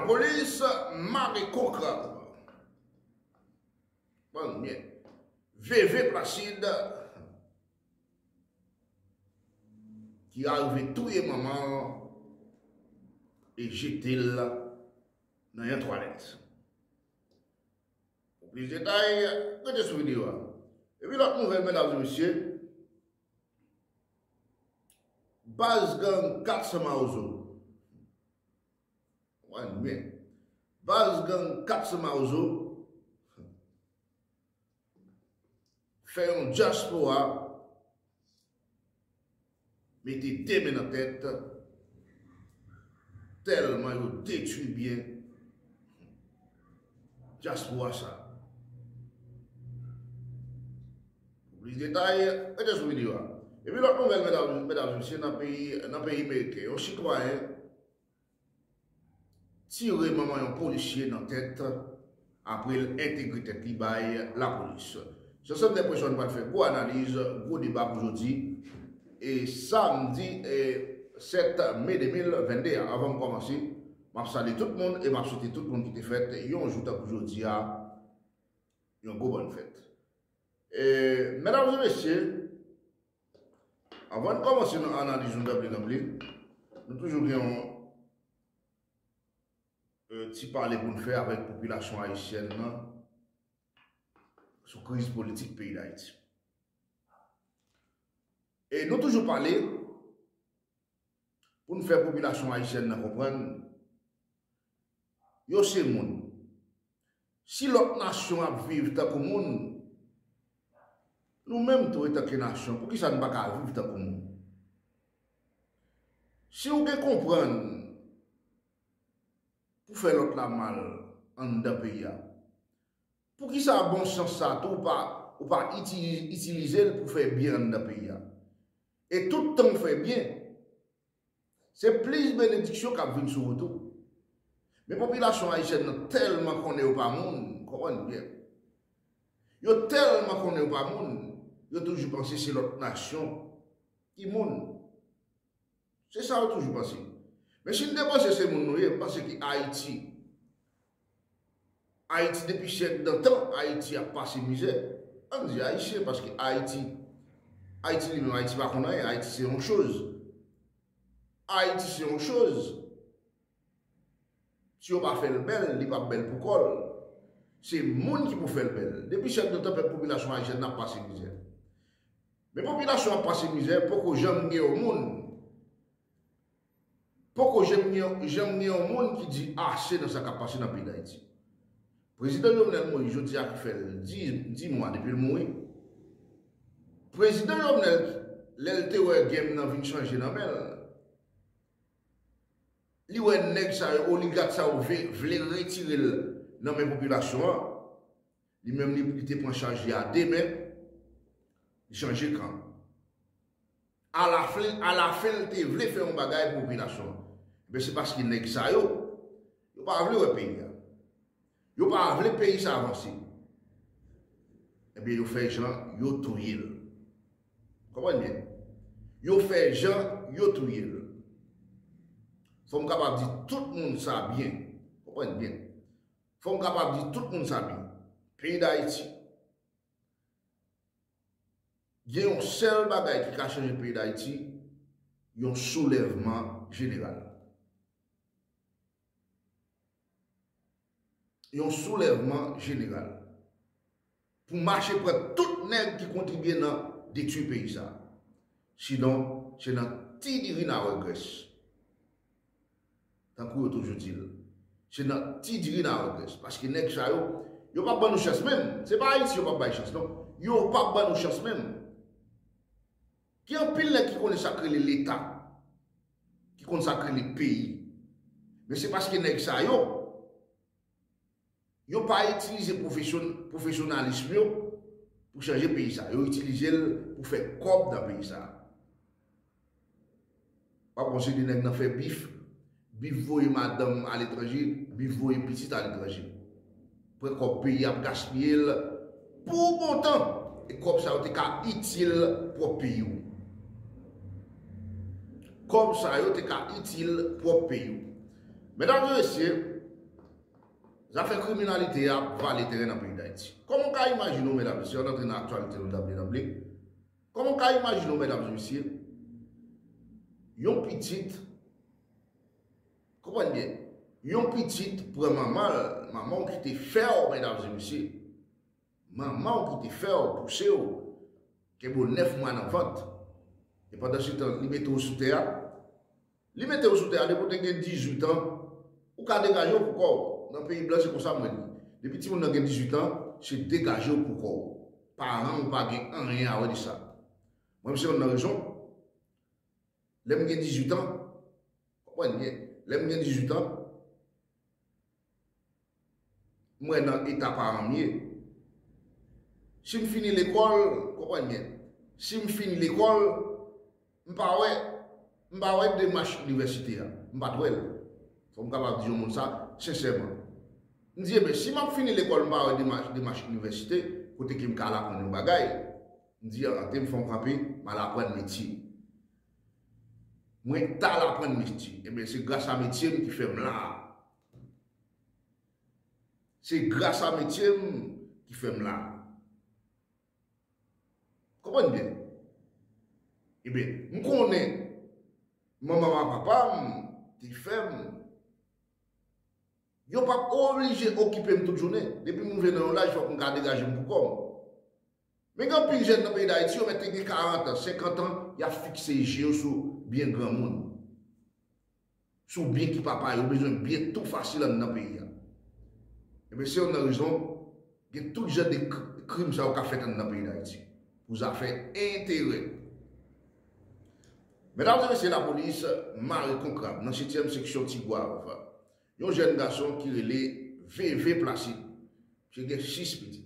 Polis mare kou krab. Bann mèd. Veve Placide ki arive touye manman l e jete l nan yon twalèt. Pou plis detay, rete sou videyo a. Epi lòt nouvèl medam e mesye, baz gang 400 mawozo. Anmwee. Baz gang 400 mawozo fè yon dyaspora mete 2 men nan tèt tèlman yo detwi byen dyaspora sa. Pou plis detay, rete sou videyo a. Epi lòt nouvèl medam e mesye nan peyi meriken, yon sitwayen. tire manman yon polisye nan tèt apre l entegre tèt li bay lapolis. Se sèm Dèpresyon nou pral fè gwo analiz, gwo deba pou jodi e samdi 7 me 2022 a. Avan m kòmanse, m ap salye tout moun e m ap swete tout moun ki te fèt yon jou tankou jodi a yon gwo bòn fèt. Medam e mesye, Avan n kòmanse nan analiz nou dab li dab li, nou toujou gen yon ti pale pou n fè avèk popilasyon ayisyèn nan sou kriz politik peyi Dayiti. E nou toujou pale pou n fè popilasyon ayisyèn nan konprann Yo se moun. Si lòt nasyon ap viv tankou moun, nou menm tou etanke nasyon, poukisa nou pa ka viv tankou moun? Si ou gen konprann pou fè lòt la mal anndan peyi a, poukisa bon sans sa a tou ou pa itilize l pou fè byen anndan peyi a? E tout tan ou fè byen, Se plis benediksyon kap vin sou ou tou. Men popilasyon ayisyèn nan tèlman konnen yo pa moun, konprann byen. Yo tèlman konnen yo pa moun, yo toujou panse se lòt nasyon ki moun. Se sa yo toujou panse. Men si n te panse se moun nou ye, m panse ki Ayiti. Ayiti depi syèk dantan ayiti ap pase mizè ann di ayisyen paske ayiti ayiti li menm ayiti pa konn anyen ayiti se yon choz ayiti se yon choz si yo pa fèl bèl li pap bèl pou kòl se moun ki pou fèl bèl depi syèk dantan pèp popilasyon ayisyen nan ap pase mizè men popilasyon ap pase mizè poko janm gen yon moun. Poko jenm gen janm gen yon moun ki di ase nan sa kap pase nan peyi dayiti. Prezidan Jovenel Moïse jodi a ki fè 10 mwa depi l mouri. Prezidan Jovenel lè l te wè game nan vin chanje nan men l, li wè nèg sa yo, oligat sa yo vle retire l nan men popilasyon an, Li menm li li te pran chaj li a de men, li chanje kan. Alafen, alafen li te vle fè yon bagay pou popilasyon an. Men se paske nèg sa yo, yo pa vle wè peyi a. Yo pa vle peyi sa avanse. Ebyen yo fè jan yo touye l. Konprann byen. Yo fè jan yo touye l. Fò m kapab di tout moun sa byen. Konprann byen. Fòm kapab di tout moun sa byen. Peyi Dayiti. Gen yon sèl bagay ki ka chanje peyi Dayiti, yon soulèvman jeneral. Yon soulèvman jeneral. Pou mache pran tout nèg ki kontribye nan detwi peyi sa. Sinon se nan ti diri na wè grès. Tankou yo toujou dil. Se nan ti diri na wè grès. Paske nèg sa yo, yo pap ban nou chans menm. Se pa Ayiti yo pap bay chans non. Yo pap ban nou chans menm. Gen anpil nèg ki konnen sa k rele leta. Ki konn sa k rele peyi. Men se paske nèg sa yo. Yo pa itilize pwofesyonalism yo pou chanje peyi sa. Yo itilize l pou fè kòb nan peyi sa. Wap wè yon seri de nèg nan fè bif. Bif voye madanm aletranje, bif voye pitit aletranje. Pran kòb peyi ap gaspiye l pou bon tan. E kòb sa yo te ka itil pwòp peyi w. Kòb sa yo te ka itil pwòp peyi w. Medam e mesye. Zafè kriminalite a ap vale teren nan peyi Dayiti. Kòman w ka imajine w medam mesye, an antre nan aktyalite nou danble danble, kòman w ka imajine w medam mesye, yon pitit, konprann byen, yon pitit pran manman l, manman w ki te fè w medam e mesye, manman w ki te fè w, pouse w, kenbe w 9 mwa nan vant, e pandan se tan li mete w sou tè a, Li metew sou tè a depi ou te gen 18 ans ou ka degajew pou kòw nan peyi blan se konsa mwen di depi timoun nan gen 18 ans se degajew pou kòw paranw pa gen anyen awè de sa mwen m se yonn nan rezon lèm gen 18 ans wap wè lè lèm gen 18 ans. Mwen nan eta paran m ye. Si m fini lekòl, konprann byen, si m fin lekòl, m pa wè, m pa wè demach inivèsite a. M pa t wè l. Fò m kapab di yon moun sa, sensèman. M di, eben, si m ap fini lekòl m pa wè demach, demach inivèsite, kote ke m ka al aprann yon bagay, m di, an, te m fè yon kanpe, m al aprann metye. Mwen tal aprann misti. Ebyen se gras a metye m ki fè m la a. Se gras a metye m ki fè m la a. Konprann byen. Ebyen, m konnen manman m ak papa m te fè m. Yo pa oblije okipe m tout jounen. Depi m rive nan yon laj fòk m ka degaje m pou kò m. Men gen anpil jèn nan peyi Dayiti yo mèt gen 40 an, 50 an, y ap fikse je yo sou byen granmoun, sou byen ki pa pa yo, yo bezwen byen tou fasil anndan peyi a. Enben se youn nan rezon gen tout jan de krim sa yo k ap fèt anndan peyi Dayiti pou zafè enterè. Medam e mesye lapolis mare kon krab nan setyèm seksyon Tigwav, yon jèn gason ki rele Veve Placide, misye gen 6 pitit.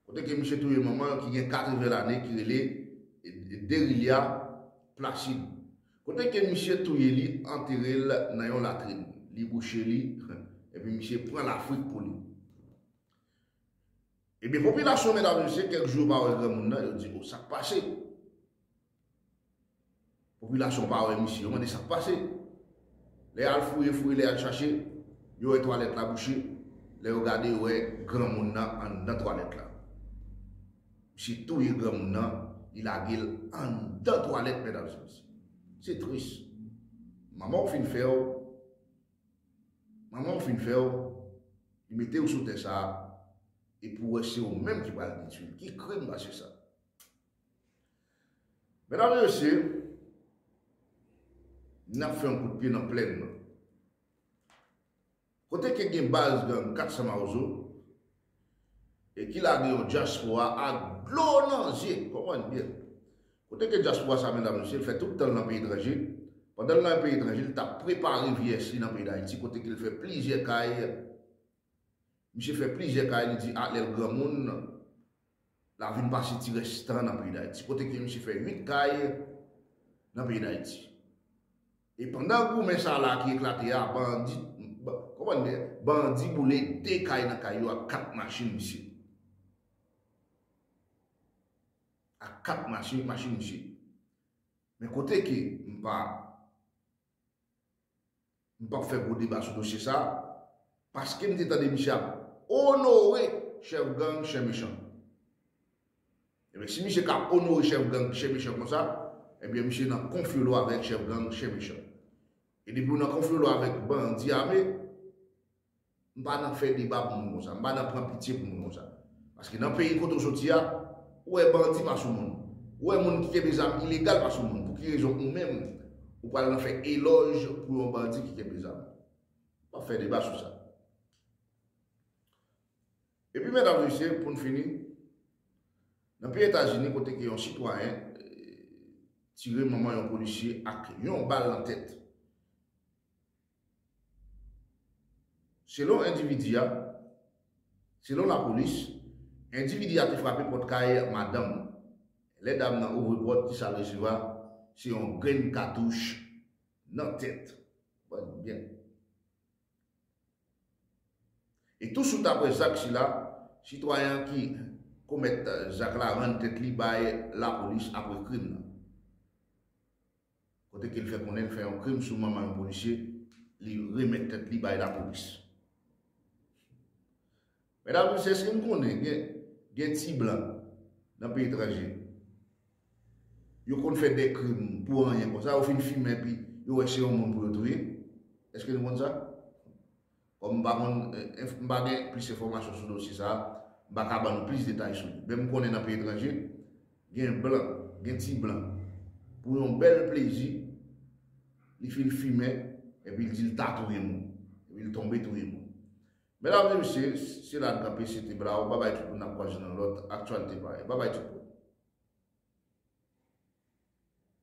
Kote ke misye touye manman l ki gen 80 lane ki rele Derilia Placide. Kote ke misye touye li antere l nan yon latrin. Li bouche li epi misye pran lafrik pou li. Ebyen popilasyon medam e mesye kèk jou yo pa wè granmoun nan yo di oh sak pase. Popilasyon pa wè misye, yo mande sak pase. Lè yal fouye fouye, lè yal chache, yo wè twalèt la bouche, lè yo gade yo wè granmoun nan anndan twalèt la. Misye touye granmoun nan, li lagel anndan twalèt medam se mesye. Se tris. Manmanw fin fèw, manmanw fin fèw, li metew sou tè sa, epi ou wè se ou menm ki pral detwil. Ki krim pase sa? Medam e mesye, n ap fè yon kout pye nan plenn nan. Kote ke gen baz gang 400 mawozo e ki lage yon dyaspora ak dlo nan zye, konprann byen. Kote ke dyaspora sa medam e mesye, l fè tout tan l nan peyi etranje, pandan l nan peyi etranje, l t ap prepare vyeyès li nan peyi Dayiti, kote ke l fè plizyè kay, misye fè plizyè kay, li di a lè l granmoun, Lap vin pase ti rès tan nan peyi Dayiti. Kote ke misye fè 8 kay nan peyi Dayiti. E pandan goumen sa la ki eklate a, bandi, konprann byen, bandi boule 2 kay nan kay yo ak 4 machin misye. Ak 4 machin misye. Men kote ke m pa. M pap fè gwo deba sou dosye sa, paske m te tande misye ap onore chèf gang Chen Mechan. Ebyen si misye ka onore chèf gang Chen Mechan konsa, ebyen misye nan konfyolo avèk chèf gang Chen Mechan. E depiw nan konfyolo avèk bandi ame, M pa nan fè deba pou moun konsa. M pa nan pran pitye pou moun konsa. Paske nan peyi kote w soti a, ou wè bandi pa sou moun. Ou wè moun ki kenbe zam ilegal pa sou moun. Pou ki rezon ou menm, ou pral nan fè elòj pou yon bandi ki kenbe zam? M pap fè deba sou sa. E pi medam mesye, pou n fini, nan peyi Etazini kote ke yon sitwayen tire manman yon polisye ak yon bal nan tèt. Selon endividi a, Selon lapolis, endividi a te frape pòt kay madanm li. Lè dam nan ouvri pòt, ki sa l resevwa? Se yon grenn katouch nan tèt. Konprann nou byen. E tousuit aprè zak sila, sitwayen an ki komèt zak la rann tèt li bay lapolis aprè krim nan. Kote ke l fè konnen l fè yon krim sou manman yon polisye, li remèt tèt li bay lapolis. Medam e mesye, èske n konnen gen ti blan nan peyi etranje, yo konn fè de krim pou anyen konsa, yo fin fimen epi yo wè se yon moun pou yo touye? Èske nou konn sa? Kòm m pa konn, m pa gen plis enfòmasyon sou dosye sa a, m pa ka ban nou plis detay sou li. Men m konnen nan peyi etranje, gen blan, gen ti blan, pou yon bèl plezi, li fin fimen, epi l di l ta touye moun, epi l tonbe touye moun. Medam e mesye, se la n kanpe, se te blaw, babay tout moun, n ap kwaze nan lòt aktyalite parèy. Babay tout moun.